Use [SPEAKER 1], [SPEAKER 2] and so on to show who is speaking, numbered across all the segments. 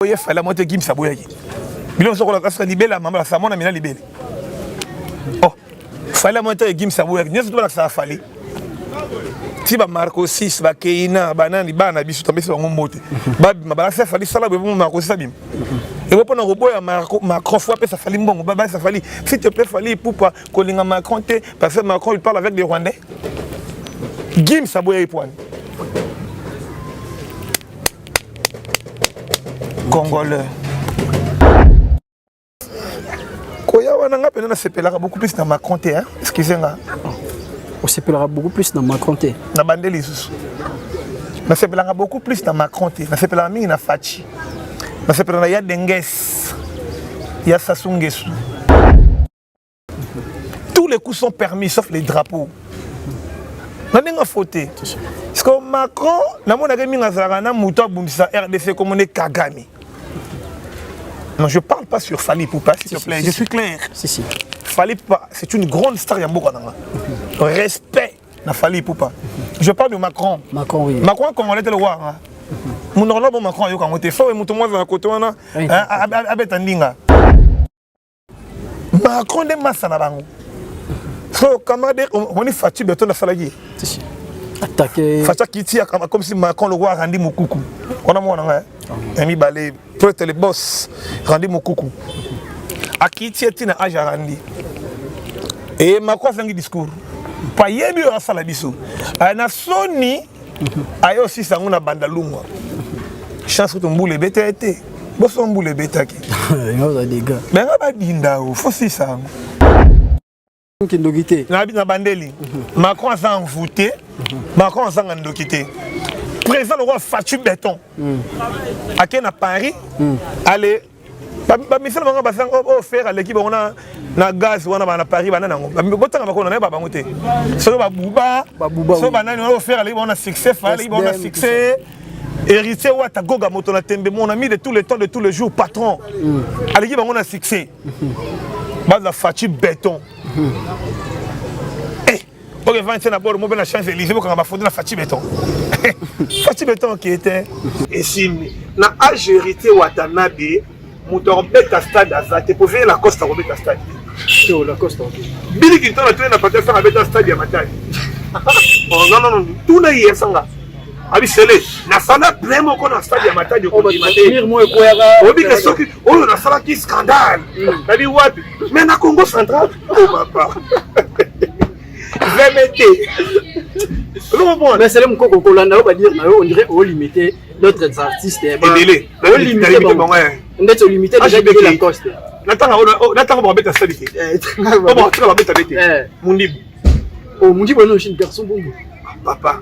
[SPEAKER 1] oye fala moto ekimisa boyaki bino moso kola kasuka libela mama la samona mina libele oh fala moto ekimisa boyaki nyeso to balakisa fali ti ba marco 6 ba keina banani bana biso tambesi bango mbote babima balakisa fali sala boye bongo marco 6 abima ebo mpo na koboya macron fo apesa fali mbongo babalisa fali si te plaît fali ipupa kolinga macron te parce que macron il parle avec des rwandais gims aboya ye pwani congolais koya wana nga mpenza nasepelaka beaucoup plus na macron te hein? excuse nga
[SPEAKER 2] osepelaka beaucoup plus na macron te na bande lisusu
[SPEAKER 1] nasepelaka beaucoup plus na macron te nasepelaka mingi na faci nasepelaka na ya denges ya sasungesu tous les coups sont permis sauf les drapeaux na ndenge afote siko macron namonaka mingi azalaka na moto abundisa rdc komone kagame non je parle pas sur fali poupa s'il te plaît je suis clair si, si. fali
[SPEAKER 2] poupa
[SPEAKER 1] c'est une grande star ya mboka nanga respect na fali poupa je parle de macron macron, oui. macron
[SPEAKER 2] congolais te le war hein?
[SPEAKER 1] monoko na bo macron ayoka yango te fo moto mwa azala kote wana abeta ndinga macron nde masa na bango so kamade omoni faci beton asalaki ye
[SPEAKER 2] atake faca kiti
[SPEAKER 1] comme si macron lokola arandi mokuku wana mwana nga ya mibale prete le boss randi mokuku akiti ye ntina age arandi e macron azangi discours payebi oyo asala biso na soni aye osisa yango na banda lungwa chance kutu mbula ebeta ye te boso mbula ebetaki
[SPEAKER 2] benga badinda o
[SPEAKER 1] fosisa yango kindoki te na bandeli mhm. macron aza envoute mhm. macron azanga ndoki te président lokola faci beton mhm. ake na paris ale bamisala bango basanga oyo oh, oh, fere aleki bango na gaz wana bana paris bana nango botanga bakona nayeba bango te soki babuba soki banani wana ofere oh, aleki bango na succès fa aleki bango na succès héritier wata goga moto na tembe mon ami de tous les temps de tous les jours patron mm. aleki bango na succès mm-hmm. baza faci béton mm-hmm. eh. oyo evandi te na bord mo mpe na champs élysée bokanga bafoto na faci beton faci beton oke te esimbi na age héritier watanabe moto akobeta stade aza te po veye lacoste akobeta stade
[SPEAKER 2] bili kintona tole na
[SPEAKER 1] pati asanga abeta stade ya matali ozanono tuna ye asanga abisele nasala plein moko na stade ya matadi okondima te
[SPEAKER 2] obike soki
[SPEAKER 1] oyo nasalaki scandale nabi wapi mais na congo central vmt
[SPEAKER 2] mesele mokoko kolanda yo badire na yo on dirait olimite d'autres artistes ebele ndeti olimite déjà beke lacoste natanga natanga
[SPEAKER 1] babeta sali te babeta bete mundibu oh mundibu
[SPEAKER 2] eno chine garçon bongo papa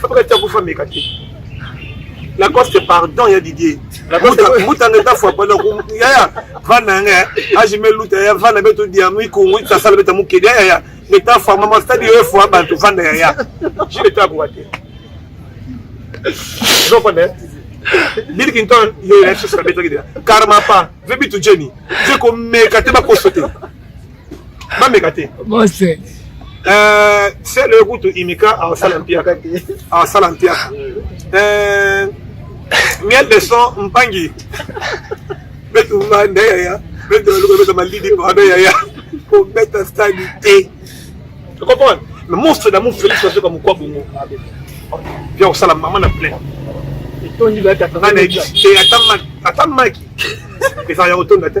[SPEAKER 1] Fabrice tia kufa meka te. Lacoste pardon ya Didier. Lacoste mutanga ta fois pardon ku ya ya vana nga aje me luta ya vana beto dia mu ku mu ta sala beta mu kede ya ya beta fois mama stadi yo fois bantu vanda ya ya. Je le tabu wa te. Zo pone. Bill Clinton yo ya sala beta kede. Karma pa vebi tu Jenny. Je ko meka te ba ko sauter. bameka te bose
[SPEAKER 3] eh,
[SPEAKER 1] sele kutu imika asala mpiaka asala mpiaka eh, miel de son mpangi betumba nde yaya betualuka beta malidi pado yaya kobeta stadi te comprendre mais monstre d'amour félix azoka mokwa bongo bia kosala mama na plein etondi ngai nayebisi te ata maki ezala ya kotonda te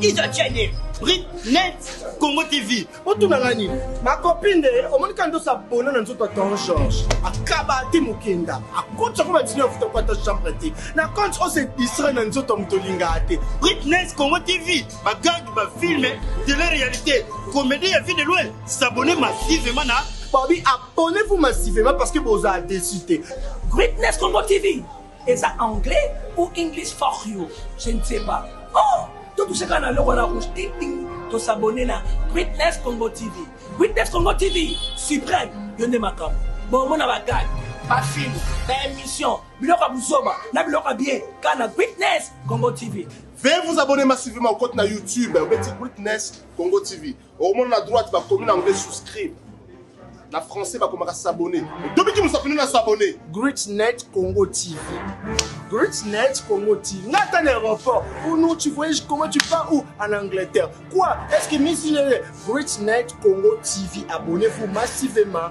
[SPEAKER 3] Iza Chene, Brit, Net, Congo TV. Otuna nga nini?
[SPEAKER 2] Makopi nde omoni ka ndosa bona na nzoto ya Don George. Akaba te mokenda. Akotisa ko batini afuta kwa ta chambre te. Na compte on se distraire na nzoto ya moto olinga te. Brit, Net, Congo TV.
[SPEAKER 3] Ba gag, ba film, télé-réalité. Comédie ya vie de loin. S'abonner massivement na Babi, abonnez-vous
[SPEAKER 2] massivement parce que vous avez décidé. Greatness Congo
[SPEAKER 3] TV. Eza anglais ou English fuck you je ne sais pas oh to touche kaka na loko na rouge ting ting to s'abonner na Witness Congo TV Witness Congo TV suprême yo nde makambo bon mona ba gag ba film ba émission biloko ya buzoba na biloko ya bien kaka na Witness Congo TV Veuillez vous abonner
[SPEAKER 4] massivement au compte na YouTube Witness Congo TV. okomona na droite bakomi na anglais souscrire na français bakomaka s'abonner tobiki mosakoli na s'abonner greatnet congo
[SPEAKER 2] tv greatnet congo tv nga ata na aéroport ou non tu voyage comment tu pars où en angleterre quoi est ce que misi greatnet congo tv abonnez vous massivement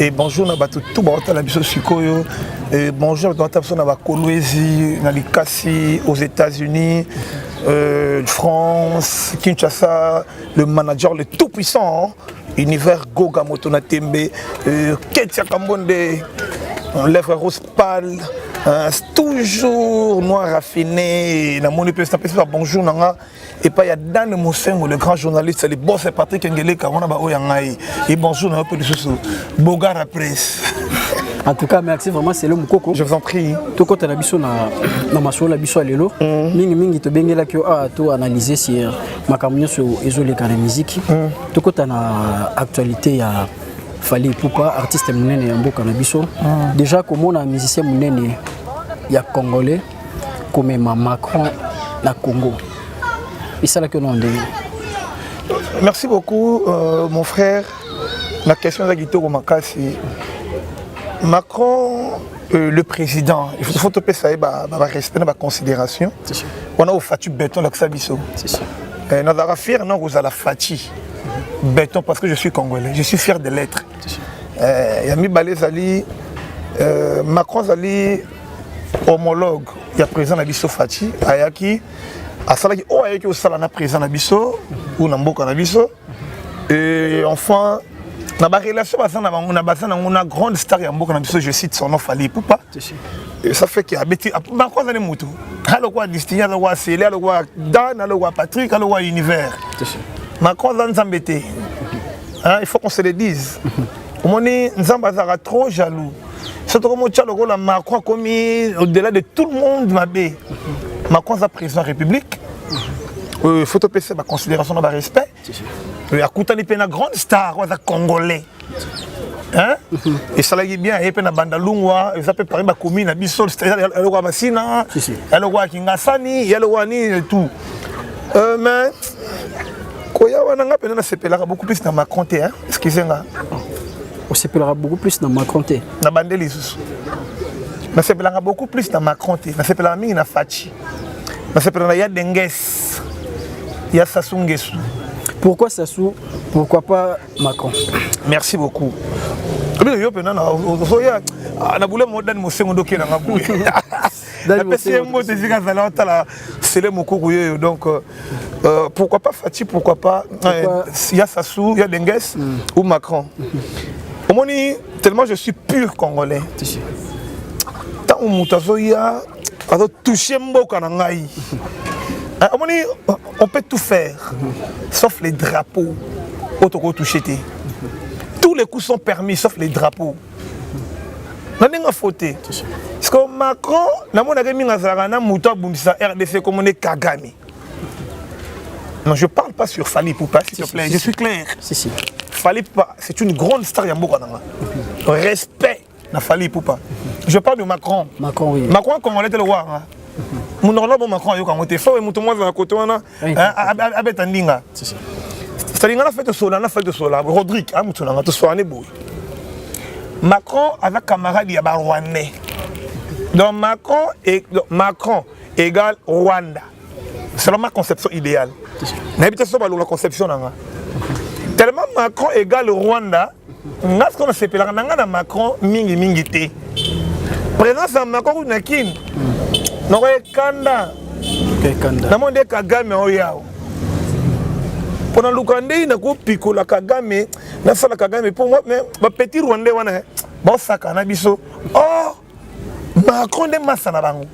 [SPEAKER 1] Et bonjour na bato tout baotala biso sikoyo et bonjour na bato biso na bakolwezi na likasi aux États-Unis euh, France Kinshasa le manager le tout puissant univers Goga moto na tembe euh, Ketia Kambonde lèvres rose pâle euh, toujours noir raffiné namoni mpe napesi ba bonjour na nga epai ya dane mosengo le grand journaliste libose patrik engeleka wana baoyo ya ngai e bonjour na yo mpe lisusu bogara presse en tout cas
[SPEAKER 5] merci vraiment c'est le mukoko je vous en prie
[SPEAKER 1] tokota na biso na
[SPEAKER 5] na masolo na biso ya lelo mm. mingi mingi tobengelaki yo awa to analyse sur makambo nyonso ezoleka na miziki mm. tokota na actualité ya fali pupa artiste monene ya mboka na biso mm. déjà komona musicien monene ya congolais komema Macron na Congo esalaki ono ndenge
[SPEAKER 1] merci beaucoup euh, mon frère na question eza kitoko makasi Macron euh, le président il faut topesa ye barespect na baconsidération wana ofati beton olakisa biso
[SPEAKER 5] euh, nazalaka fier
[SPEAKER 1] na kozala fati beton parce que je suis congolais je suis fier de l'être euh, ya mibale ezali euh, macron azali homologue ya président na biso Fatshi ayaki asalaki oyo ayaki osala na président na biso ou na mboka na biso et enfin na barelation baza na bango na baza nango na grande star ya mboka na biso je cite son nom fali epupa ça fait que abeti banko azali motu alokola distingue alokola sele alokola dan alokola patrick alokola univers macron aza nzambe te il faut qu'on se le dise omoni nzambe azalaka trop jaloux soki tokomotya lokola macron akomi au-delà de tout le monde mabe macron aza président ya république euh, faut topesa baconsidération na barespect euh, akutani mpe na grande star oyo aza congolais esalaki bien aye mpe na banda lungwa eza mpe parmi bakomi na biso eloko ya masina eloko ya kingasani eloko ya nini tout euh, mais koya wana nga mpenza nasepelaka beaucoup plus na macron te excuse nga
[SPEAKER 5] osepelaka beaucoup plus na macron te na bande lisusu
[SPEAKER 1] nasepelaka beaucoup plus na macron te nasepelaka mingi na faci nasepela na ya denges ya sasu ngesu pourquoi sasu
[SPEAKER 5] pourquoi pas macron merci
[SPEAKER 1] beaucoup obi yo mpenza na boule modani mosengo ndoki na nga boye apesi ye mbote esika azali atala sele mokuku yeyo donc euh, euh, pourquoi pas fati pourquoi pas euh, ya sassou ya denges mm. ou macron omoni tellement je suis pur congolais ntango moto azoya azotouche mboka na ngai ah, omoni on peut tout faire mm-hmm. sauf les drapeaux oyo tokotouche te tous les coups sont permis sauf les drapeaux na ndenge afo te parceke macron namonaka mingi azalaka na moto abundisa rdc komone kagame non je parle pas sur fali poupa s'il te plaît si, je si, suis clair si, si. fali poupa c'est une grande star ya mboka nanga respect na fali poupa je parle de macron macron, oui. macron
[SPEAKER 5] congolais te le wanga
[SPEAKER 1] monoko na bo macron ayoka yango te fo moto mwa azala kote wana eh, abeta ndinga salinga na fete osola na fete osola rodrigue amutu nanga tosoane boye macron aza camarade ya barwandais donc macron e, donc macron égale rwanda selon ma conception idéale nayebi te so balola conception nanga tellement macron égale rwanda nga sikoyo nasepelaka na nga na macron mingi mingi te présence ya macron kutu na kin nakoye kanda namoni nde kagame oyawo mpo naluka ndei nakopikola kagame nasala kagame mpo bapetit rwandais wana eh, basakana biso oh! macron nde masa na bango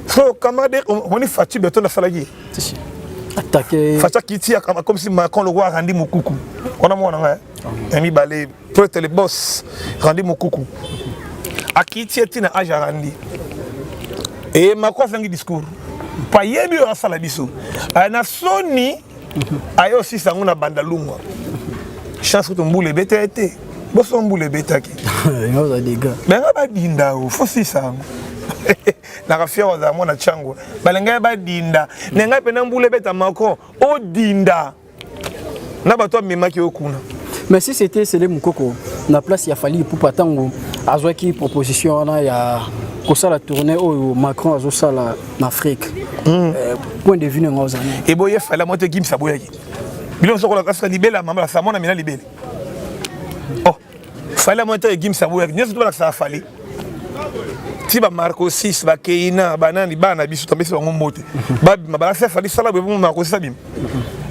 [SPEAKER 1] so camarade omoni faci beton asalaki ye atake
[SPEAKER 5] faca kiti
[SPEAKER 1] comme si macron le roi randi mukuku on a mwana nga ya mibale prêtre le boss randi mukuku akiti ye tina age arandi e macron asangi discours payebi oyo asala biso na soni aye osisa yango na banda lungwa chance kutu mbula ebeta ye te boso mbula ebetaki
[SPEAKER 5] benga badinda o
[SPEAKER 1] fosisa yango nakafiya wazala mwana chango balinga ye badinda na ngai mpena mbula ebeta macron odinda na bato amemaki yo kuna mais si c'était
[SPEAKER 5] sele mokoko na place ya fali ipupa ntango azwaki proposition wana ya kosala tournée oyo macron azosala na afrique hmm. eh, point de vue nanga ozali eboye fala moto ekimisa
[SPEAKER 1] boyaki bino sokola kasuka libele ya mama samona mina libele oh fala moto ekimisa boyaki nyonso tobalakisaka fali ti bamarco 6 bakeina banani bana biso topesi bango mbote babima balakisa fali sala boye marco 6 abima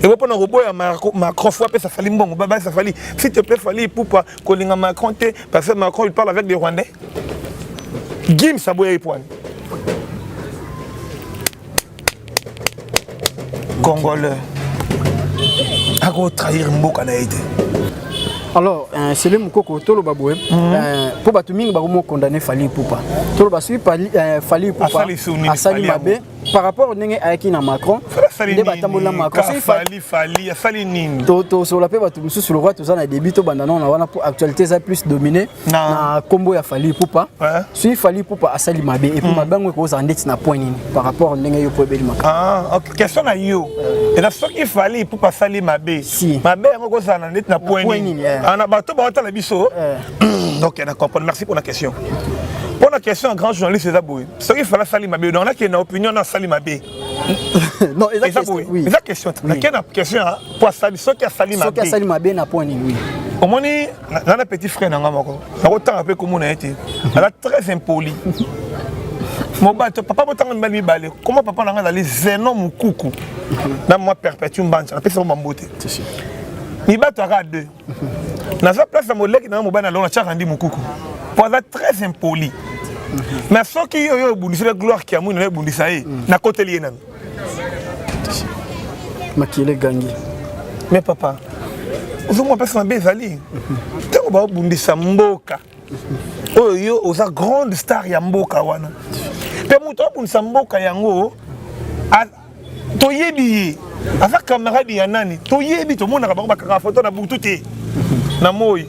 [SPEAKER 1] ebo mpona koboya macron fo apesa fali mbongo balakisa fali si te pe fali ipupa kolinga macron te parce que macron il parle avec des rwandais gims aboya ye pwani congolais akotrahir mboka na ye te alors
[SPEAKER 5] euh, sele mokoko toloba boye mpo mhm. euh, bato mingi bakomi okondane fali ipupa toloba soki euh, fali ipupa asali mabe par rapport ndenge ayaki na macron nde batamboli na
[SPEAKER 1] macronsali nini tosola mpe bato
[SPEAKER 5] mosusu lokola toza na début tobanda nao na wana mpo actualité eza plus domine na nkombo ya fali pupa soki fali pupa asali mabe epuis hmm. mabe yango ekozala ndeti na point nini par rapport ndenge yo mpo ebeli makambo ah, question na
[SPEAKER 1] yo eza soki fali pupa asali mabe mabe yango ekozala na ndeti na point nini eh. ah, na bato baotala biso eh. donc na comprendre merci mpo na question mpo na question ya grand journaliste eza boye soki fala asali mabe donc nakende na opinion na asali mabe non
[SPEAKER 5] eza eza question boye oui eza question Oui. nakende na
[SPEAKER 1] question ya po asali soki asali soki mabe asali mabe na point
[SPEAKER 5] nini oui omoni
[SPEAKER 1] na- na na petit frère na nga moko nakotanga mpe komona ye te aza très impoli mobali to papa botanga mibali mibale koma papa na nga azali zeno mokuku na mwa perpétue mbanza napesi bango bambote C'est sûr. mibali toyaka deux naza place na moleki na yo mobali na longo natiaka ndi mokuku po aza très impoli na soki yo yo obundisela gloire kiamwini nayo ebundisa ye mm. nakoteli ye nanu
[SPEAKER 5] makele gangi me papa
[SPEAKER 1] ozomwa mpasi mabe ezali ntango babundisa mboka oyo yo oza grande star ya mboka wana mpe moto abundisa mboka yango toyebi ye aza camarade ya nani toyebi tomonaka bango bakaka foto na butu te na moi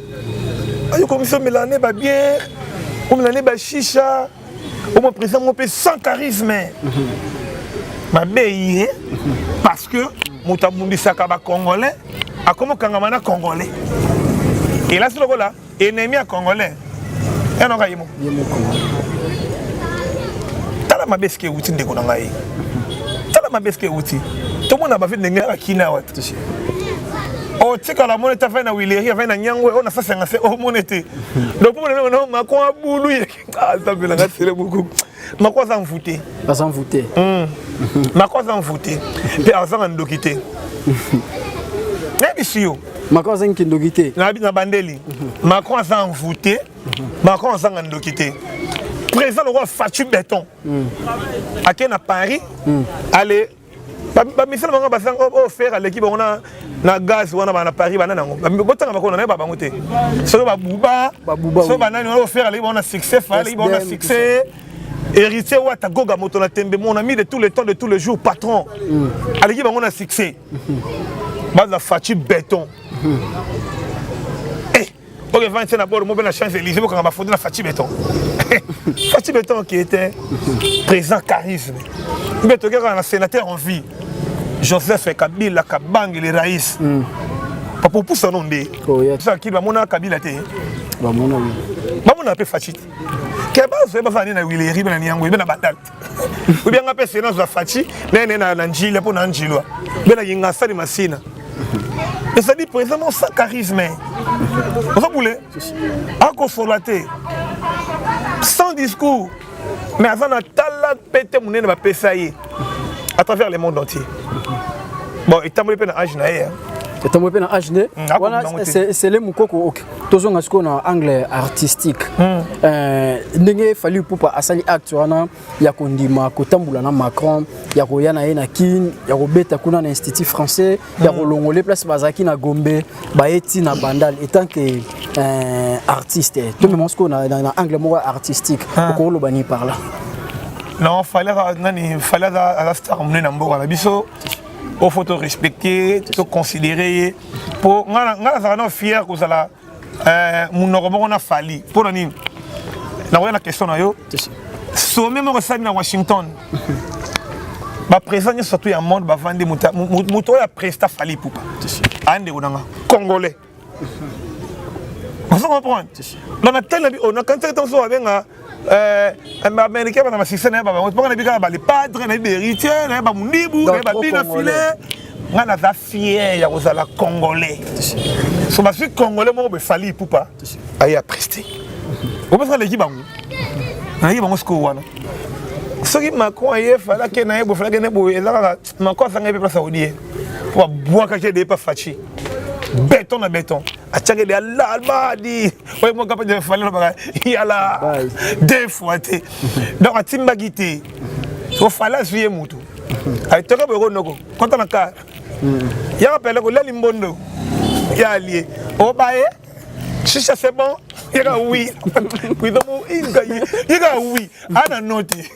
[SPEAKER 1] ayo komisi omela ne babiere omela ne bashisha omo président moko mpe sans charisme mabe ye parce que moto abundisaka bacongolais akomokangama na congolais elasi lokola Ennemi ya Congolais. Ya noka yemo. Yemo. Tala mabe sike wuti ndeko na ngai. Tala mabe sike wuti. Tomona ba vie ndenge ya kina wa. otikala moni te afai na wileri afai na nyangwe oyo na sasanga se omoni te donc mpo na meko na macron abulu ye Ah, nzambe na ngai sele beaucoup mako aza mvute aza mvute
[SPEAKER 5] hmm.
[SPEAKER 1] mako aza mvute mpe azanga ndoki te nayebisi yo macron
[SPEAKER 5] azangi kindoki te na bandeli
[SPEAKER 1] macron aza envoute macron azanga ndoki te président lokola faci beton hmm. ake na paris hmm. ale bamisala bango basanga oyo oh, oh, fere aleki bango na gaz wana bana paris bana nango botanga bakona nayeba bango te soki babuba soki banani wana ofere oh, aleki bango na succès fa aleki bango na succès héritier wata goga moto na tembe mon ami de tous les temps de tous les jours patron mm. aleki bango na succès mm-hmm. baza faci béton mm-hmm. eh. oyo evandi te na bord moko mpe na champs élysée bokanga bafoto na faci beton faci beton qui était présent charisme mpe toke kaka na sénateur en vie joseph kabila kabange le rais mm. papa opusa no nde sakili bamonaka kabila te bamona mpe faci te ke bazoye bazala nde na wileri mpe na niango ebe na badal te ou bien nga pe sena za fachi na ne na njila po na njilwa be na yinga sali masina ezali présentement sans charisme oza bule akosola te sans discours mais aza na tala pete monene bapesa ye à travers le monde entier bon etamboli mpe na age na ye etamboli mpe na age ne wana
[SPEAKER 5] sele mokoko tozonga sikoyo na angle artistique hmm. euh, ndenge fali ipupa asali acte wana ya kondima kotambola na macron ya koya na ye na kin ya kobeta kuna na institut français ya hmm. kolongole place bazalaki na gombe baye ti na bandal etant que euh, artiste tomema sikoyo na angle moko artistique hmm. okoloba ni par là non
[SPEAKER 1] fali nani fali aza star monene na mboka na biso o faut to respecter to considérer ye po nga nga nazalaka no fier kozala euh, munoko moko na fali mpo na nini nakoya na question na yo sommet moko esali na washington baprésent nyonso surtout ya monde bavandi moto oyo apresta fali pupa aye ndeko na nga congolais ozo comprendre donc natali na bi oh, nakanisaki ntango soki babenga eh, baaméricain bana basise na ye babango mpaka na bi kaka balepadre na ye baheritier na ye bamundibu na ye babina file ngai naza fier ya kozala congolais so basui congolais moko befali ipupa aye apreste obesaka leki bango naleki bango sikoyo wana soki macron aye falaki na ye bofalaki na ye boye eza kaka Mako asangaki mpe place aodie mpo abwakaki ede epa faci beton na beton atiaki ede alalbadi oye mwaka mpe defali lobaka yala deux fois te donc atimbaki te ofali azwi ye motu aitoka boye konoko kota na kar yaka pele kolali mbondo ya alie obaye shisha c'est bon yaka wi kuidomo yaka wi ana note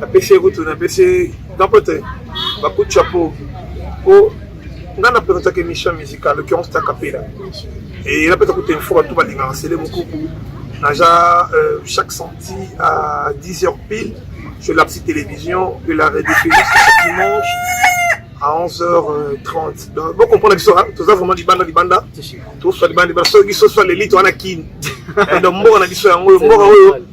[SPEAKER 1] napesi ye kutu napesi ye napote bakuti chapeau po nga na présentaka émission musicale l'occurrence ta kapela e napesa kutu info bato balingaka sele mokuku naja euh, chaque samedi à 10 heures pile je lapsi télévision de la rediffusion dimanche à 11h30 donc bo comprendre biso toza vraiment libanda libanda toswa libanda libanda soki soki swa lelite wana kini donc mboka na biso yango oyo mboka oyo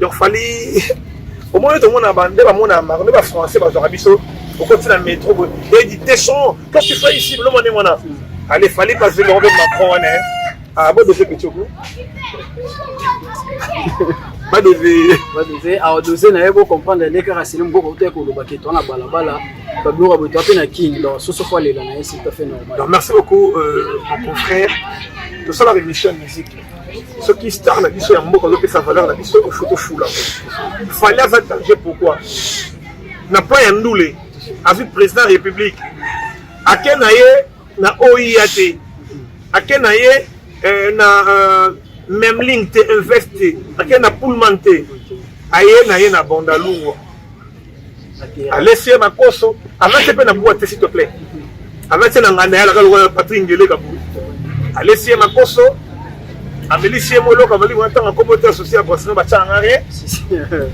[SPEAKER 1] donc fali omoni tomona nde bamona mako nde bafrançais bazwaka biso okoti na metro boye edi teson qu'est-ce que tu fais ici bilomone mwana ale fali pasi bango mpe macron wana ah bodose pechoko badose badose awa dose na ye
[SPEAKER 5] bocomprendre nde kaka sili moboko uta ekoloba ke toa na balabala babiloko boye toa mpe na king donc soso fo alela na ye c'est tout à fait normal donc merci beaucoup
[SPEAKER 1] euh, mon confrère tosalaka émission musique soki star na biso ya mboka azopesa valeur na biso faut tofula fali aza danger pourquoi na plan ya ndule azwi président ya république ake na ye na oia te ake na ye eh, na euh, memling te invest te ake na pullman te aye na ye na bandalungwa alesi ye makoso alati mpe na bua te s'il te plaît alati na nganda ya laka lokola patri ngele kaburu alesi ye makoso amelisi ye moloko abali kuna ntango akomi ote asosi ya brasino batyanga rien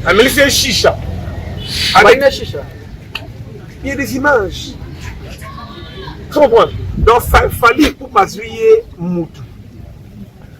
[SPEAKER 1] amelisi ye shisha avec shisha
[SPEAKER 5] il
[SPEAKER 1] y a des images tu comprends donc fali kupa azwi ye mutu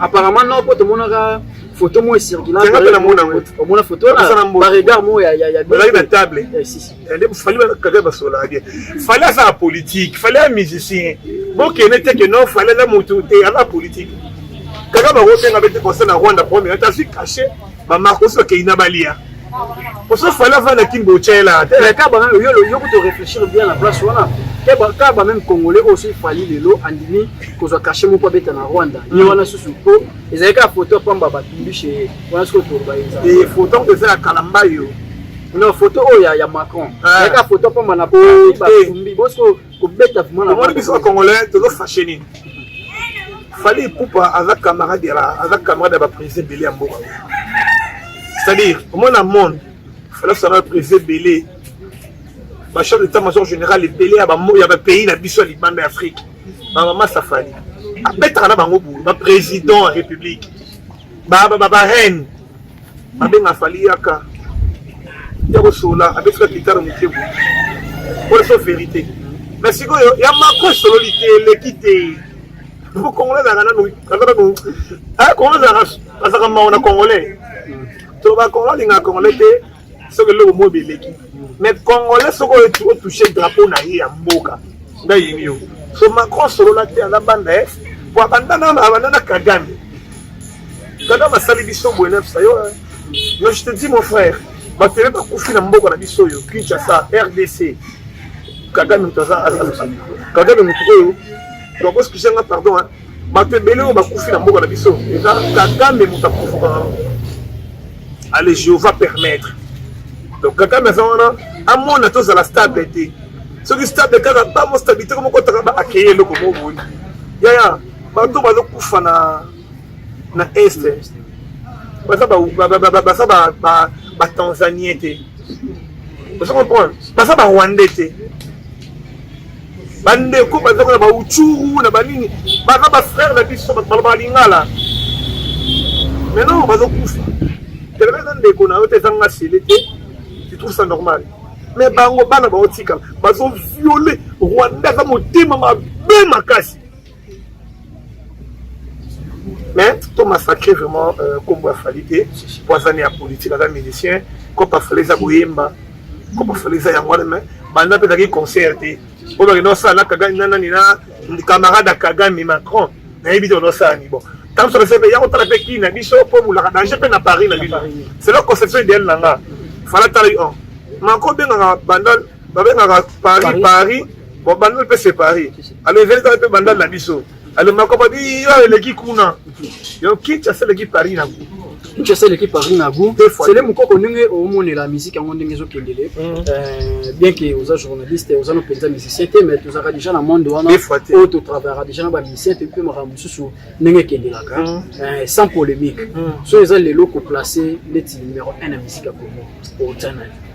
[SPEAKER 1] apparemment
[SPEAKER 5] non po tomonaka photo moko esirkilaomona
[SPEAKER 1] photo
[SPEAKER 5] baregard moko yaozalaki na table
[SPEAKER 1] nde fali kaka basolaka bien fali aza na politique fali ya musicien bokende te ke non fali aza motu te aza politique kaka bakobenga bete conseil na rwanda premier ata azwi cachet Mama kosi okei na balia. Oso fala fala kimbo chela. Mais kaba yo
[SPEAKER 5] yo ko to réfléchir bien la place wana. Kaba kaba même congolais oso fali lelo andimi kozwa cachet moko abeta na Rwanda. Ye wana susu po ezali ka photo pamba ba tumbi chez wana siko to ba eza. Et photo ko eza
[SPEAKER 1] kalamba yo. Non photo
[SPEAKER 5] oyo ya Macron. Ezali ka photo pamba na po ba tumbi. Bosiko kobeta omoni biso bacongolais
[SPEAKER 1] tozo fache nini fali ipupa aza camarade ya aza camarade ya baprise ebele ya mboka c'est-à-dire omoni na monde fali asala baprise ebele bachef d'état major général ebele ya bapays na biso ya libanda ya afrique bamama safali abetaka na bango boye baprésident ya république bareine Abenga Fally yaka yako sola abetaka guitare moke boye oyo so verite mais sikoyo ya mako esololi te eleki te po congolais azalaka nanu azalaka nanu congolais azalaka mawa na congolais toloba congolais alingaka congolais te soki eloko moyo beleki mais congolais soki otouche drapeau na ye ya mboka nga yini yo so macron solola te aza banda ye po abanda abanda na kagame kagame asali biso boye nefsa yo yo je te dis mon frère bato ebe bakufi na mboka na biso oyo kinshasa rdc kagame moto aza kagame moto oyo tokosukisa nga pardon bato ebele oyo bakufi na mboka na biso eza kagame moto akufaka yango ale jehova permettre donc kagame aza wana amona tozala stable te soki stable kaka bango stabilité ko mokotaka ba akeye eloko moko boye yaya bato bazokufa na na est baza batanzanien te ozo comprendre baza barwandais te bandeko bazaka na bauchuru na banini baza bafrere na biso bato baloba lingala maintenant bazokufa telema eza ndeko na yo te ezanga sele te tu trouve ça normal mais bango bana baotikala bazoviole rwanda aza motema mabe makasi mais to massacre vraiment euh, kombo ya fali te po aza ne ya politique aza musicien kopa fali eza koyemba kopa fali eza yango wana mais banda mpe ezalaki concert te oyo bakenda osala na kagame na nani na camarade ya kagame macron nayebi te ona osala ni bon ntango soki ese mpe ya kotala mpe kii na biso mpo bolaka danger mpe na paris na bino c'est la conception idéale na nga fala tala yo oh. mako obengaka banda babengaka paris paris bon bandal mpe se paris alo ezali kaka mpe bandal na biso alo makopa biyo eleki kuna yo kinshasa eleki paris na kuna kinshasa eleki
[SPEAKER 5] paris na gout sele mokoko ndenge omonela miziki yango ndenge ezokendele mm. euh, bien ke oza journaliste oza no mpenza musicien te mais tozalaka déjà na monde wana oyo totravayaka déjà na bamusicien te mpe makambo mosusu ndenge ekendelaka mm. euh, sans polémique mm. so eza lelo koplace ndeti numero 1 ya miziki ya congo otya nayo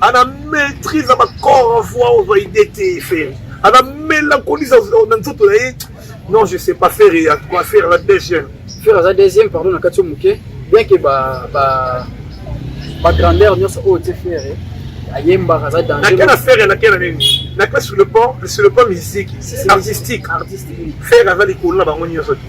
[SPEAKER 1] ana maîtrise ya bacor en voix ozwa idee te fere ana melancolise na nzoto na ye non je sais pas fere ya quoi fere la deuxième fere aza deuxième pardon
[SPEAKER 5] na kati yo moke bien ke ba, ba, ba grandeur nyonso oyo te fere ayembaka aza dangerake na fere nake na
[SPEAKER 1] nini nake sur le pont sur le pont musique artistique fere aza likolo na bango nyonso te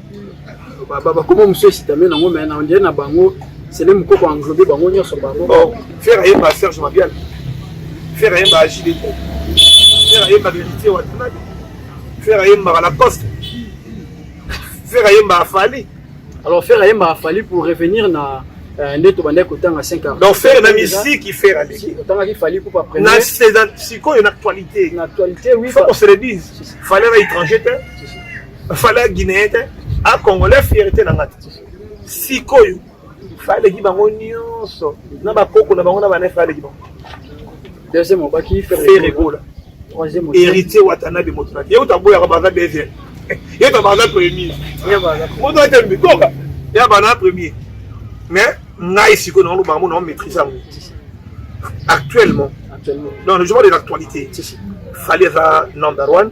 [SPEAKER 5] bakoma mosusu esitame nango me na ondire na bango sele mokoko englobe bango nyonso bango oh, fere ayemba
[SPEAKER 1] serge mabial fere ayemba agide fere ayemba verité watanaki fere ayembaka la poste fere ayemba afali alors fere ayemba
[SPEAKER 5] afali pour revenir na euh, nde tobandaki kotanga 5 ans donc fere na misiki
[SPEAKER 1] fere aleki otangaki fali pour pas
[SPEAKER 5] prendre sikoyo
[SPEAKER 1] na actualité na actualité oui faut qu'on
[SPEAKER 5] se le dise
[SPEAKER 1] fallait na étranger te fale ya guinéen te a congolais fierté na nga te sikoyo faleki bango nyonso na bakoko na bango na bana faleki bango deuxième
[SPEAKER 5] obaki fere gola héritier watanabe
[SPEAKER 1] moto na ye uta boyaka baza deuxième ye ta baza premier moto ate mbikoka ya bana premier mais ngai sikoyo na olobaka mo na omaîtrise yango actuellement dans le jour de l'actualité fallait va number one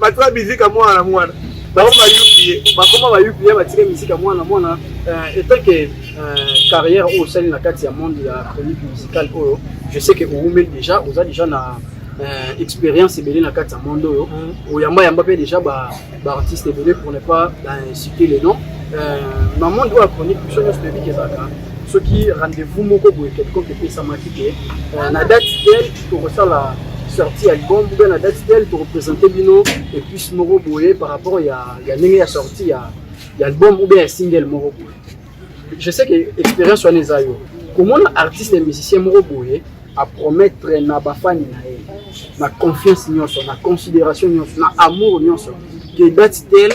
[SPEAKER 1] bato ya bizika mwana na mwana bango ba upie
[SPEAKER 5] bakoma ba upie batika mizika mwana na mwana euh, etant que euh, carrière oyo osali na kati ya monde ya chronique musicale oyo je sais que owumeli déjà oza déjà na euh, expérience ebele na kati ya monde oyo mm. oyamba yamba mpe déjà baartiste ebele pour ne pas inciter le nom na monde oyo ya chronique biso nyonso toyebi kezalaka soki rendez-vous moko boye quelconque epesamaki te na date tel tokosala sortie ya album mpe na date telle tokopresente bino epuce moko boye par rapport ya, ya ndenge ya sortie ya, ya album ou bien ya single moko boye je sais que expérience wana eza yo komona artiste ya musicien moko boye apromettre na bafani na ye na confiance nyonso na considération nyonso na amour nyonso que date telle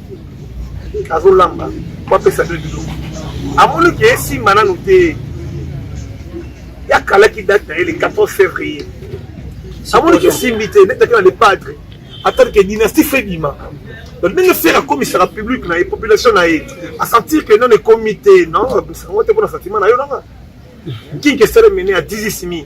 [SPEAKER 1] azolamba po apesa bino biloko amoni ke esimba nanu te yakalaki date na ye le 14 février amoni ke esimbi te netaki na le padre atali ke dynastie fe bima donc ndenge fere akomisaka publique na ye population na ye asentir ke non ekomi te non abisango te mpo na sentiment na yo nanga kinki esalemene ya dizisimi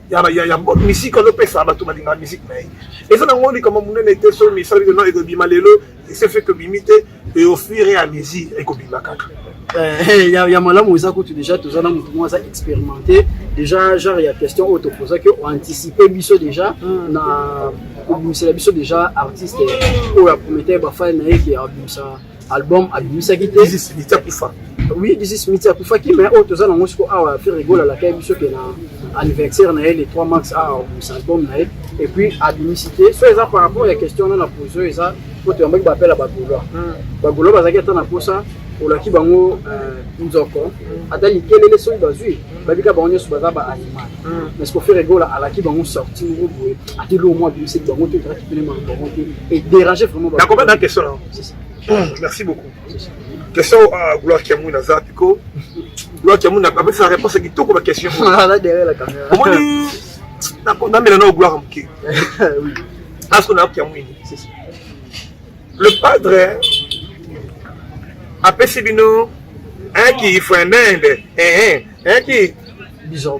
[SPEAKER 1] ya ya ya bo misika ozo pesa bato balingaka misiki na ye eza na ngo likambo monene te soki misala bino ekobima lelo ese fait que bimi te et au fur et à mesure ekobima kaka Eh, eh, ya,
[SPEAKER 5] ya malamu eza kutu deja toza na motu moko aza expérimenté deja genre ya question oyo topozaki oanticipe biso deja mm. na kobimisela biso deja artiste oyo aprometaki bafani na ye ke abimisa album abimisaki te liti akufa
[SPEAKER 1] oui disis miti
[SPEAKER 5] akufaki mais oyo toza nango siko awa ferre gola alakaki biso ke na anniversaire na ye le 3 mars awa ah, album na ye et puis abimisi te so eza par rapport ya question wana na pose oyo eza po toyambaki bapela bagolois hmm. bagolois bazalaki ata na posa olaki bango euh, nzoko ata likelele soki bazwi babika bango nyonso baza ba animal hmm. mais siko ferre gola alaki bango sorti moko boye ati lo mwa abimisaki bango te ezalaki pene bango te et dérange vraiment na question
[SPEAKER 1] merci beaucoup question à gloire kiamu naza piko gloire kiamu apesa réponse ya kitoko ba question
[SPEAKER 5] omoni
[SPEAKER 1] namela nao gloire moke asko na kiamuini le padre apesi bino un qui faut un mende un qui bizarre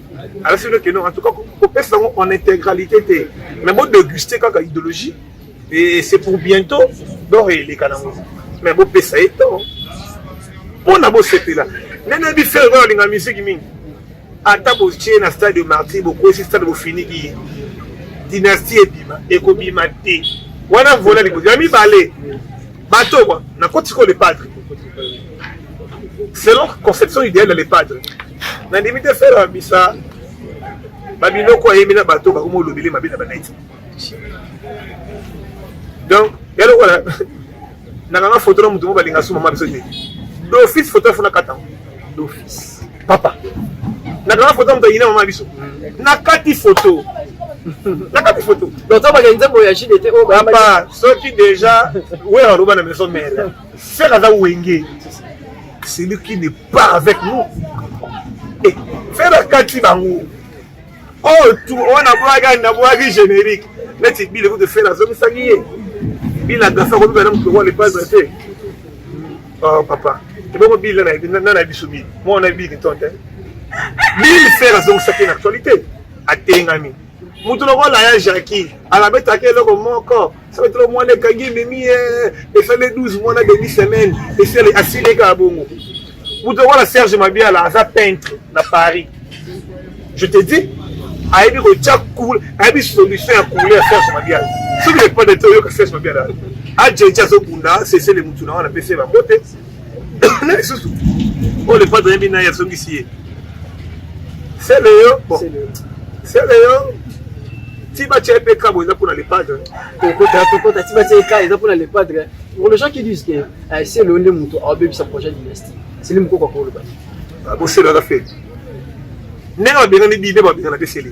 [SPEAKER 1] alasi no keno en tout cas kopesa yango en intégralité te mais bo déguster kaka idéologie et c'est pour bientôt donc eleka nango mais bopesa ye temps mpo na bosepela ndenge yebi fere oyo alinga miziki mingi ata botie na stade de martyr bokwesi stade bofiniki ye dynastie ebima ekobima te wana vola likozi ya mibale bato kwa na koti ko le padre selon conception idéale ya le padre na ndimi te fere ya bisa babiloko ayemi na bato bakoma olobele mabe na banaiti donc ya lokola nakanga foto na moto mo balinga suma ma biso te d'office foto afuna katango d'office papa nakanga foto moto ayina mama biso nakati foto nakati foto donc tobaka nzembo ya
[SPEAKER 5] jide te oyo oh, papa soki
[SPEAKER 1] deja wera aloba na maison mele Ferre aza wenge celui qui ne part avec nous et eh, Ferre akati bango oyo oh, tu wana bwaki na bwaki générique neti bile kutu Ferre azongisaki ye bila gafa kobiba na moto wana epaza te oh, papa ebongo bile na na biso bile mwana bile kiton te bile Ferre azongisaki na actualité atengami motu lokola ya jacki alabetaki eloko moko ça va être mwana ekangi ememi esali 12 mois na demi semaine esali asili ekaka bongo moto wana serge mabiala aza peintre na paris je te dis ayebi kotya coul ayebi solution ya couleur ya serge mabiala soki lepande te oyoka serge mabiala ajeje azobunda sesele motu na wana apesi ye bango te na lisusu oyo lepadre ayebi naye azongisi ye sele yo bon sele yo ti batya mpe kabo eza mpona lepadre tokota tokota ti batya eka eza mpona
[SPEAKER 5] lepadre pour les gens qui disent que eh, sele yo nde moto aobebisa projet dynastie sele mokoko akoloba boselaka fe
[SPEAKER 1] ndenge babengani bibe babengana mpe sele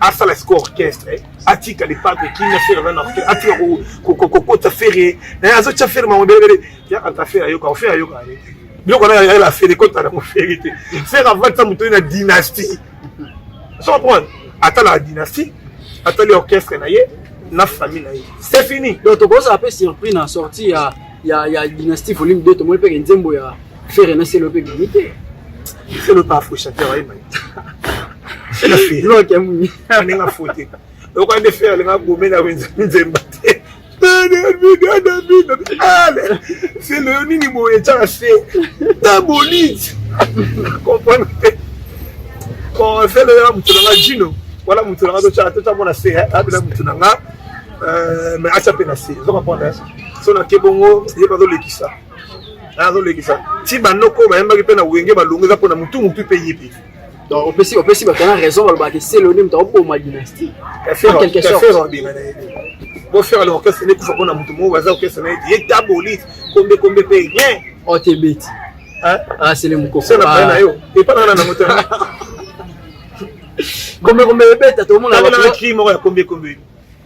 [SPEAKER 1] asala siko orchestre eh. atika lipate kimia fere aza na orchestre atika kokota fere naye eh, azotya fere mango belebele yaka ta fere ayoka fere ayoka eh. biloko na yayela fere kota na mofere te fere avatisa moto ye na dynastie so comprendre atala la dynastie atali orchestre na ye na famille na ye c'est fini donc tokozala mpe surpris
[SPEAKER 5] na sortie ya ya ya dynastie volume 2 tomoni mpe nzembo ya fere na selo mpe bimi te selo mpe
[SPEAKER 1] afrochateur ayemba loke muni
[SPEAKER 5] ndenge afote
[SPEAKER 1] okoka nde fere alinga gomena nzemba te selo yo nini boye etyaka se ta bonite comprendre te bon selo ya moto na nga jino wana moto na nga totyaka totyamona se abela moto na nga mais atya mpe na se ozo comprendre so na ke bongo ye bazolekisa azolekisa ti banoko oyo bayembaki mpe na wenge balongo eza mpo na motu motu mpe ye mpe donc opesi
[SPEAKER 5] opesi bato na raison balobaka ke seloni moto akoboma dynastie quelque sorte
[SPEAKER 1] bofere le orchestre nde kufa mpo na motu moko baza orchestre na ye te ye tabolite kombe kombe mpe rien otebeti
[SPEAKER 5] asele mokokosala baye na yo
[SPEAKER 1] epa nanga na nango te
[SPEAKER 5] kombe kombe ebeta tomonaa cri moko ya kombe
[SPEAKER 1] kombe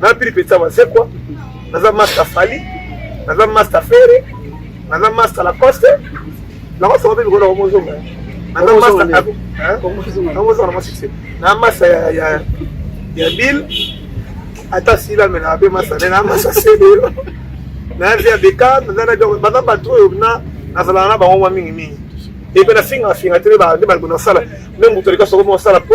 [SPEAKER 1] na pili pesa wazekwa naza master fali naza master fere naza master lacoste lacoste wapi bikona omozonga naza master omozonga na mwa succès na master ya ya ya bill ata sila me na be master ne na master sebelo na via beka naza na bio baza bato oyo na nazalaka na bango mwa mingi mingi epe na finga finga te nde balibona kosala me moto alika soko mosala po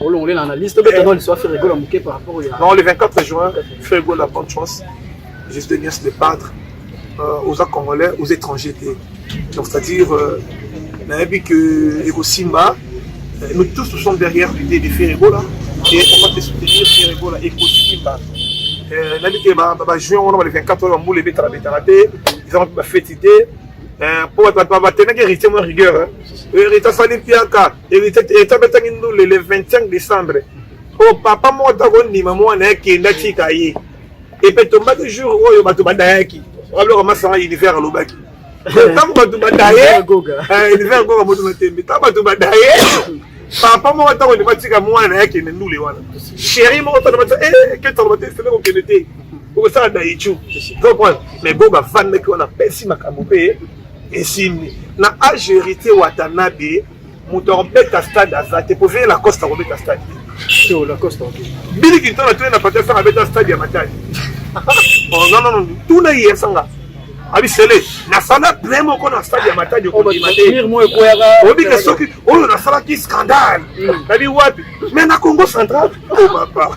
[SPEAKER 1] olongole na
[SPEAKER 5] analyse tobeta eh. no liso ya ferrego na moke par rapport ya non le 24 juin
[SPEAKER 1] ferrego la bonne chance juste de bien se débattre euh, aux congolais aux étrangers te donc c'est à dire euh, nayebi que ekosimba euh, nous tous nous sommes derrière l'idée de ferrego là et on va te soutenir ferrego là ekosimba euh, nayebi te bajuin wana ba le 24 oyo bambula ebetala betala te eza mpe bafeti te mpo batenaki héritier mwa rigueur héritier asali mpiaka etabetaki ndule le 25 décembre oyo papa moko ata kondima mwana akende atika ye epe tombaki jour oyo bato badayaki wabiloko masanga univers alobaki ntango bato badaye univers goga moto matembe ntango bato badaye papa moko ata kondima atika mwana na ye akende ndule wana sheri moko tana batia eh, ketaloba te sele kokende te okosala daichu mais goga afandaki wana apesi makambo mpe esimbi na age heritier watanabe moto akobeta stade aza te po veye lacoste akobeta stade
[SPEAKER 5] bili kintona
[SPEAKER 1] toye na pati asanga abeta stade ya matali nonono tuna ye asanga abisele nasala plein moko na stade ya matadi okondima te obike soki oyo nasalaki scandale nabi wapi mais na congo central o papa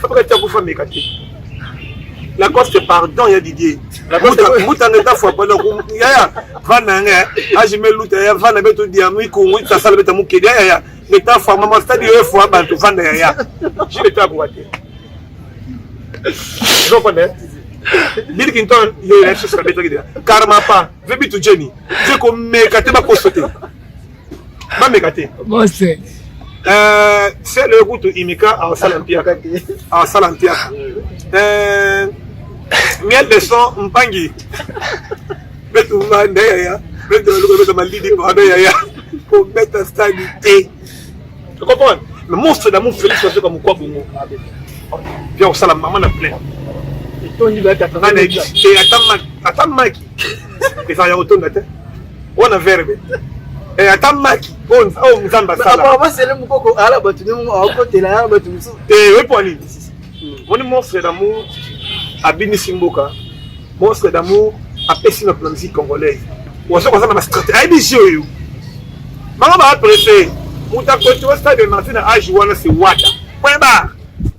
[SPEAKER 1] Fabaka tia kufa meka te. Lacoste pardon ya Didier. Lacoste muta ngeta fwa pala ku ya ya vana nge aji me luta ya vana beto dia mu ku mu ta sala beta mu kede ya ya ngeta fwa mama stadi yo fwa bantu vana ya ya. Je le tabu wa te. Je connais. Bill Clinton yo ya sala beta kede. Karma pa vebi tu Jenny. Je ko meka te ba kosote. bameka te bose
[SPEAKER 3] eh,
[SPEAKER 1] sele kutu imika asala mpiaka asala mpiaka eh, miel de son mpangi betumba nde yaya betualuka beta malidi pado yaya kobeta stadi te okomprendre mais monstre d'amour félix azoka mokwa bongo bia kosala mama na plein etondi
[SPEAKER 5] ata maki ata
[SPEAKER 1] maki ezala ya kotonda te wana verbe eh, ata maki oyo oh, oh, nzambe asalabasele mokoko ala
[SPEAKER 5] bato nde akotela ya bato mosusu te eh, oyepo ya nini
[SPEAKER 1] moni monstre d'amour abimisi mboka monstre d'amour apesi na musique congolaise oza koza na bastrate ayebi jeu oyo bango baaprese moto akotiwa stade de marti na age wana se wata point barre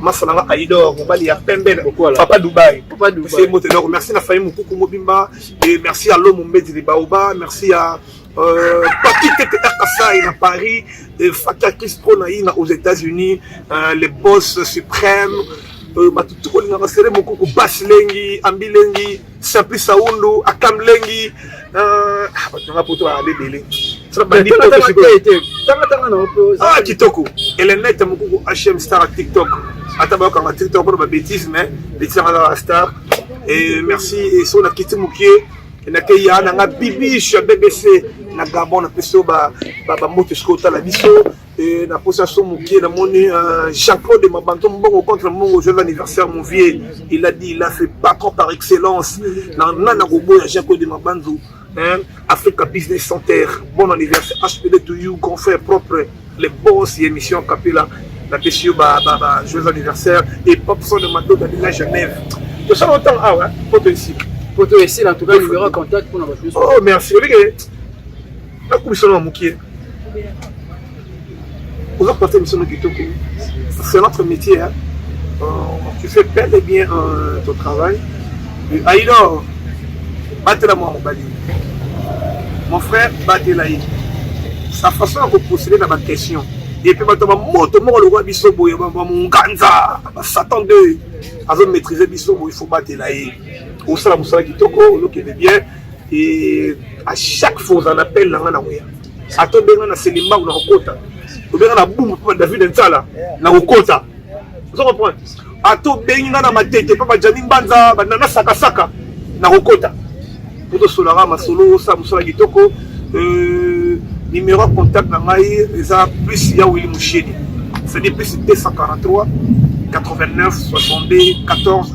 [SPEAKER 1] maso na nga ayidor mobali ya pembe papa dubai se mbote donc merci na famille mokuku mobimba et merci ya lomo mbedi libaoba merci ya euh, papi tete kasai na paris euh, fata kistro na ina aux états unis euh, les boss suprême bato tokolingaka sere mokuku basi lengi ambi lengi Simplice Aundu, Akam Lengi, euh, ah, bato nanga poto bazala ebele ah kitoko elenete mokuku hm star tiktok ata bayokanga tiktok mpona babétise mais bétise yanga azala star et merci et so nakiti mokie nakei ya nanga bibiche ya bbc na gabon na peso bamoto esiko otala biso Et na posa son mukie na moni euh, Jean-Claude de Mabanto Mbongo contre Mbongo joyeux anniversaire mon vieux il a dit il a fait patron par excellence na na na gobo ya Jean-Claude de Mabanzo hein Africa Business Center bon anniversaire HPD to you grand frère propre les boss et émission Capella na pesi yo ba ba ba joyeux anniversaire et pop son de Mado de la Genève to ça longtemps ah ouais poto ici poto ici en
[SPEAKER 5] tout cas numéro contact pour na ba oh merci olike
[SPEAKER 1] nakobisa na mokie oza kopasa émission no kitoko c'est notre métier hein? Euh, tu fais bel et bien euh, ton travail aidor batela mwa mobali mon frère batela ye sa façon ya kopostele na baquestion epe bato ba moto moko lokola biso boye bamonganza basatan de azo maîtrise biso boye fo batela ye osala mosala kitoko olokende bien et à chaque fois oza na appel na nga na koya ata obenga na selimba na kokota obenga na bumbu mpo david nsala na kokota ozo comprendre ata obengi nga na matete mpo bajami mbanza banana sakasaka na kokota mpo tosolaka masolo osala mosala kitoko euh, numéro ya contact na ngai eza plus ya wili musheni c'est-à-dire plus 243 89 62 14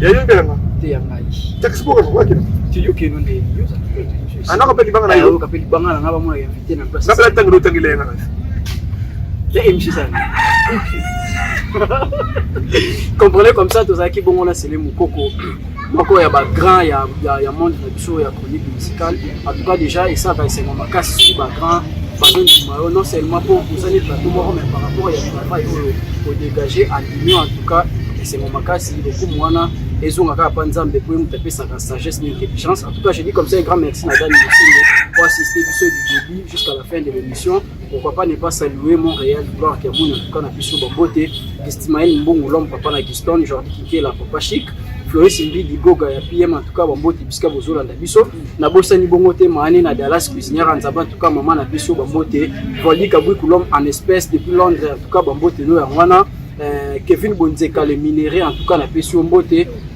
[SPEAKER 5] yayembelanga
[SPEAKER 1] te ya ngai
[SPEAKER 5] taxiboko nakwaki
[SPEAKER 1] tiyokeno nde
[SPEAKER 5] anaka
[SPEAKER 1] mpe libanga nayoka mpe libanga na ngai bamona
[SPEAKER 5] invité na place napela ntango lotangela yanga
[SPEAKER 1] na
[SPEAKER 5] ya émission ezali comprenez comme ça tozalaki bongo na sele mokoko moko ya bagrand ya monde na biso ya chronique musicale en tout cas déjà esalaka esengo makasi soki ba grand bazondima yo non seulement mpo osali plateau moko mais par rapport ya travail oyo odégage en union en tout cas esengo makasi lokumu wana ezonga kaka mpa nzambe mpo ye moto apesaka sagesse na intelligence en tout cas je dis comme ça un grand merci na dani mosende po assiste biso du début jusqu'à la fin de l'émission Pourquoi pas ne pas saluer Montréal, gloire qui a mon tout cas na biso ba beauté, Gestimael Mbongo l'homme papa na Giston, Jordi Kinkela papa chic, Floris Mbidi Goga ya PM en tout cas ba beauté bisika bozola na biso, na bosani bongo te maane na Dallas cuisinière en zaba en tout cas maman na biso ba beauté, Vali Kabui l'homme en espèce depuis Londres en tout cas ba beauté no ya wana, euh, Kevin Bonzeka le minerai en tout cas na biso mbote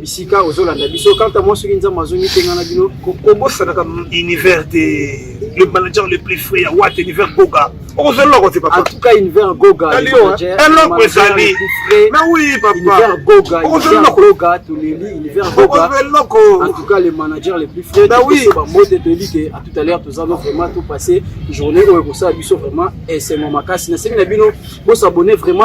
[SPEAKER 5] bisika ozolanda biso kanta mwa soki nzambe azongi te ngai na bino kobosanaka
[SPEAKER 1] univers te le manager le plus frais ya wat univers goga okozwa eloko te papa en tout cas univers goga
[SPEAKER 5] eloko
[SPEAKER 1] ezali na oui papa univers goga
[SPEAKER 5] univers goga toleli univers goga eloko en tout cas le manager le plus frais na oui ba mbote toyebi
[SPEAKER 1] ke
[SPEAKER 5] à tout à l'heure toza no vraiment tout passer journée oyo ekosala biso vraiment esengo makasi na sengi na bino bosabonne vraiment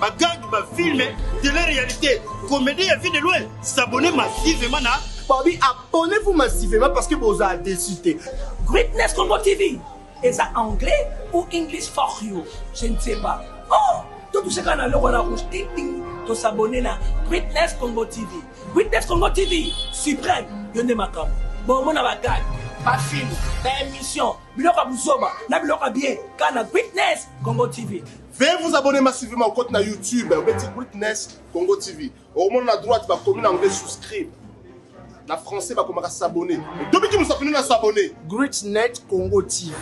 [SPEAKER 6] ba gang ba film de la réalité comédie ya vie de loin s'abonner massivement na babi abonnez-vous
[SPEAKER 2] massivement parce que bozala déçu te greatness congo
[SPEAKER 3] tv eza anglais ou english for you je ne sais pas oh totushaka na loko na rouge ting ting tosabone na greatness congo tv greatness congo tv suprême yo nde makambo bomona bagage bafilme baémission biloko ya buzoba na biloko ya bien kana greatness congo tv Veuillez vous abonner
[SPEAKER 4] massivement au compte na YouTube obeti Witness Congo TV. Okomona na droite bakomi na anglais souscribe. Na français bakomaka s'abonner. Tobiki musafini na s'abonner. Greatnet Congo
[SPEAKER 2] TV.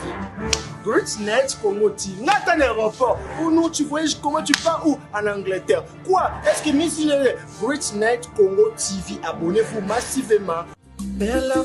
[SPEAKER 2] Greatnet Congo TV. Nga ata na aéroport. Oh non, tu voyages comment tu pars où En Angleterre. Quoi Est-ce que Miss Greatnet Congo TV. Abonnez-vous massivement. Bella